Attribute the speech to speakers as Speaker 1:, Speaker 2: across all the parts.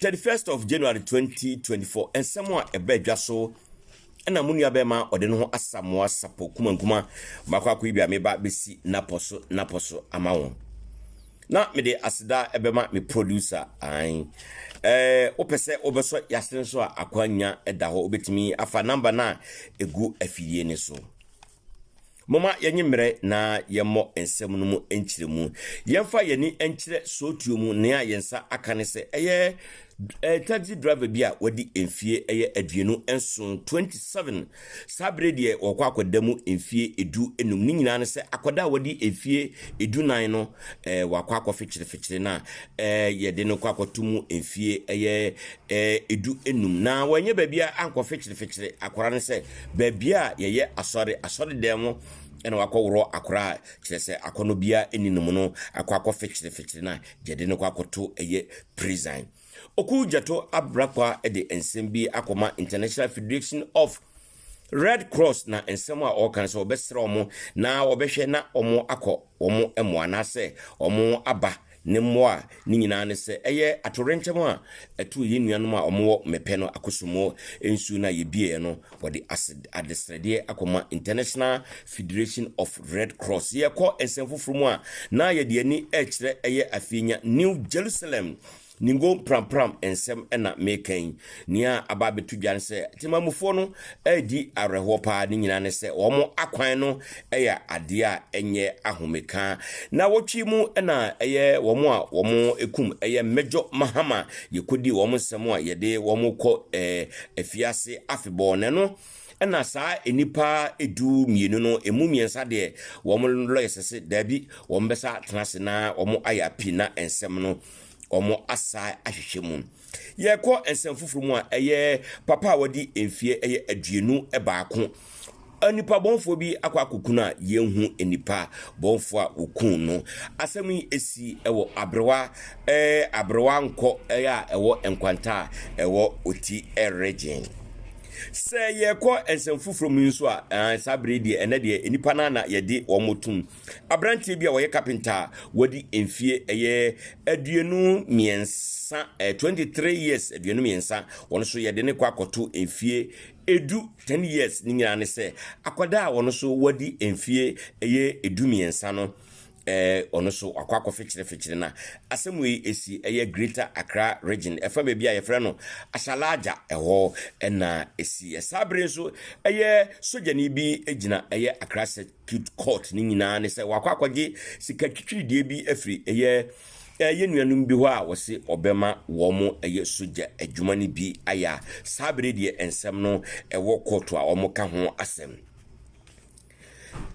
Speaker 1: Thirty first of January twenty twenty four nsɛm a ɛbaa dwa so ɛna mo nua bɛrima ɔde ne ho asamoa sapo kumankuma baako akɔ yi bi a meba bɛsi napɔ so napɔ so ama wɔn na mede aseda ɛbɛma me producer an ɛɛ wopɛ sɛ wobɛsɔ yɛase no so a akwanya ɛda hɔ wobɛtumi afa namba no a ɛgu afidie no so Momma yɛnnye mmerɛ na yɛmmɔ nsɛm no mu nkyerɛmu. Yɛmfa yɛn ani nkyerɛ sootuo mu nea yɛn nsa aka ne sɛ ɛyɛ taxi driver bi a wadi mfeɛ ɛyɛ aduonu nson, 27. Saa berɛ deɛ wɔkɔ akɔda mu mfeɛ edu enum. Ne nyinaa ne sɛ akɔda a wadi mfeɛ edu nan no eh, wakɔ akɔfekyerefikyere na eh, yɛde no kɔ akɔto mu mfeɛ ɛyɛ eh, edu enum. Na wɔnyɛ baabi a ankɔfekyerefikyere akɔra ne sɛ Baabi a yɛyɛ asɔre, asɔre dan mu na wakɔ worɔ akora a kyerɛ sɛ akɔnɔ biara ɛni no mu no akɔ akɔ fɛkyerɛ fɛkyerɛ na gyɛde no kɔ akɔto ɛyɛ prison. Oku Gyato Abrakwa ɛde nsɛm bi akɔ ma International Federation of Red Cross na nsɛm a ɔɔka no sɛ ɔbɛsrɛ ɔmo na ɔbɛhwɛ na ɔmo akɔ ɔmo ɛmoa na sɛ ɔmo aba Ne mmoa no nyinaa ne sɛ ɛyɛ atoyerɛnkyɛm a ɛtoo yɛn nuanom a wɔwɔ Mepɛ no Akosomoɔ nsuo no a yɛbueeɛ no, wɔde adesrɛdeɛ akɔma International Federation of Red Cross. Yɛkɔ nsɛm foforɔ mu a, na yɛde yɛn ani rekyerɛ ɛyɛ afeenya New Jerusalem. Ningo prampram nsɛm na meka yi. Nea aba abɛto dwa ne sɛ temamufoɔ no redi awerɛhoɔ paa, ne nyinaa ne sɛ wɔn akwan no yɛ adeɛ a ɛnyɛ ahomeka. Na wɔtwe mu na ɛyɛ wɔn a wɔn kum ɛyɛ Major Mahama, yɛkɔdii wɔn nsɛm a yɛde wɔn kɔ eh, afiase afebɔɔ na ɛno ɛna saa nnipa edu mmienu no emu mmiɛnsa deɛ wɔn lɔyɛ sɛ sɛ daabi wɔn bɛsa tena ase na wɔn ayɛ api na nsɛm no wɔn asa ahwehwɛ mu. Yɛkɔ nsɛm foforɔ mu a, ɛyɛ papa a wadi mfeɛ ɛyɛ aduonu baako. Nnipa bɔnfoɔ bi akɔ akɔku no a yɛnhu nnipa bɔnfoɔ a wɔku no. Asɛm yi ɛsi ɛwɔ aberewa ɛɛ aberewa nkɔ ɛyɛ a ɛwɔ nkwanta a ɛwɔ ɔti ɛregyen. Sɛ yɛkɔ nsɛm foforɔ mu nso a, saa bere deɛ ɛnɛ deɛ nnipa no na yɛde wɔn tum Aberanteɛ bi a ɔyɛ kapenta a wadi mfeɛ ɛyɛ aduonu mmiɛnsa, eh, 23 years aduonu mmiɛnsa, wɔn nso yɛde ne kɔ akɔto mfeɛ edu 10 years ne nyinaa ne sɛ akwadaa a wɔn nso wadi mfeɛ ɛyɛ edu mmiɛnsa no eh, ɔno nso wakɔ akɔfekyerefekyere na asɛm wei esi ɛyɛ Greater Accra Region ɛfa baabi a yɛfrɛ no Ashalaja ɛhɔ ɛna esi ɛsaa bere nso ɛyɛ sogyani bi gyina ɛyɛ Accra Cute Court no nyinaa ne sɛ wakɔ akɔgye sika twitwirideɛ bi afiri ɛyɛ ɛyɛ nuanom bi hɔ a wɔse ɔbɛma wɔn ɛyɛ sogya adwuma no bi ayɛ a saa bere deɛ nsɛm no ɛwɔ kɔɔto a wɔn ka ho asɛm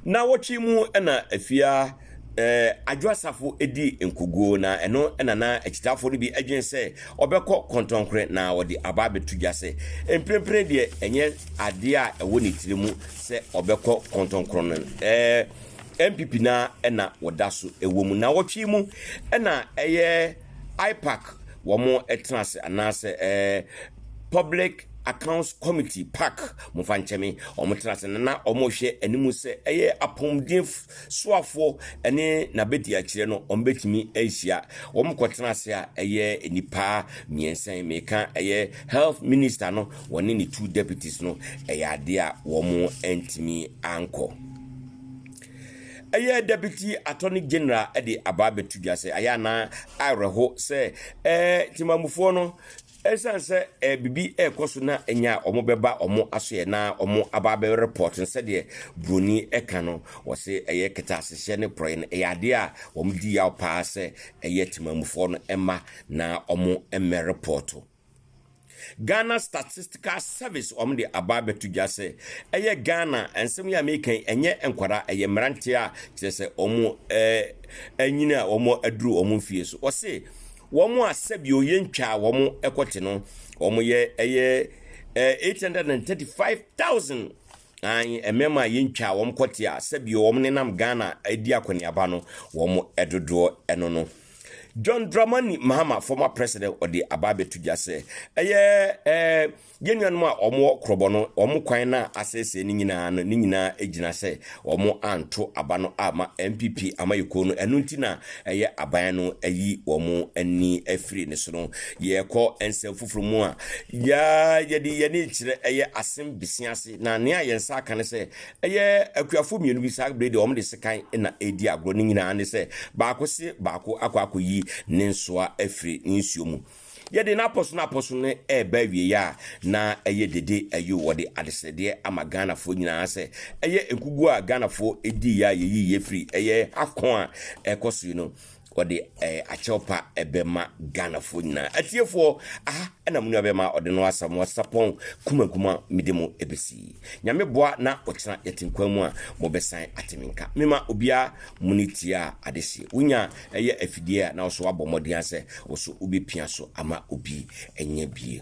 Speaker 1: na wɔtwe mu ɛna afia ɛɛ adwo asafo edi nkoguo na ɛno ɛna na akyitafoɔ no bi adwene sɛ ɔbɛkɔ kɔntɔnkore na wɔde aba abɛto dwa sɛ mprempren deɛ ɛnyɛ adeɛ a ɛwɔ ne tiri mu sɛ ɔbɛkɔ kɔntɔnkrɔn no ɛɛ npp no ara na wɔda so wɔ mu nawɔtwe mu na ɛyɛ ipac wɔn tena ase anaasɛ ɛɛ public accounts committee pac mo fa nkyɛn me wɔn tena ase na wɔhwɛ anim sɛ ɛyɛ apɔmuden soafoɔ ne n'abɛdi akyerɛ no wɔn bɛtumi ahyia wɔn kɔ tena ase a ɛyɛ nipa mmiɛnsa yi meka ɛyɛ health minister no wɔne ne two deputies no ɛyɛ adeɛ a wɔn ntumi ankɔ ɛyɛ deputy attorney general de aba abɛto dwa sɛ ayɛ anaa awerɛho sɛ ɛɛ temamufoɔ no ɛsiane sɛ ɛɛ biribi ɛrekɔ so na ɛnya a wɔbɛba wɔn asoɛ na wɔn aba abɛ report no sɛdeɛ buroni ɛka no wɔse ɛyɛ kɛtɛasehyɛ ne porɔeɛ no ɛyɛ adeɛ a wɔn di yaw paa sɛ ɛyɛ temamufoɔ no ɛma na wɔn mmɛ report Ghana Statistical Service wɔn de aba abɛto dwa sɛ ɛyɛ Ghana nsɛm yi a meka yi ɛnyɛ nkwadaa ɛyɛ mmeranteɛ a kyerɛ sɛ wɔn ɛɛ anyini a wɔn aduru wɔn mfie so wɔse wɔn a sɛbi oyɛ ntwaa wɔn ɛkɔte no wɔn yɛ ɛyɛ ɛɛ eight hundred and thirty five thousand an mmarima a yɛntwaa wɔn kɔte a sɛbi wɔn nenam Ghana ɛdi akɔneaba no wɔn ɛdodoɔ ɛno no. John Dramani Mahama, former president, ɔde aba abɛto dwa sɛ ɛyɛ ɛɛ yɛn nuanom a wɔwɔ korɔbɔ no wɔn kwan no a asɛesɛe no nyinaa no ne nyinaa gyina sɛ wɔn anto aba no ama npp amayɛkuo no ɛno nti na ɛyɛ aban no ayi wɔn ani afiri ne so no yɛkɔ nsɛm foforɔ mu a yɛde yɛne kyerɛ ɛyɛ asɛm bisi ase na nea yɛn nsa aka no sɛ Ɛyɛ akuafoɔ mmienu bi saa bere deɛ wɔn de sekan na ɛredi agorɔ. Ne nyinaa ne sɛ baako se baako akɔ akɔyi ne nsoa afiri ne nsuo mu. Yɛde no apɔ so no apɔ so no ɛreba awieeɛ a na ɛyɛ dede ayo wɔde adesrɛdeɛ ama Ghanafoɔ nyinaa sɛ ɛyɛ nkuguo a Ghanafoɔ diiɛ a yɛyiiɛ firi ɛyɛ AFCON a ɛkɔ so yi no wɔde ɛɛ eh, akyɛw pa ɛbɛma ghanafoɔ nyinaa atiefoɔ aha ɛna mo nua bɛma ɔde no asa mo asapɔn kumakuma mede mo ɛbɛsi nyame boa na ɔkyena yɛtenkwan mu a mobɛsan ateme nka mema obiara mo ne tie a ade hye wonya ɛyɛ afidie a na ɔso abɔ mmɔden a sɛ ɔso wobɛpia so ama obi ɛnyɛ bie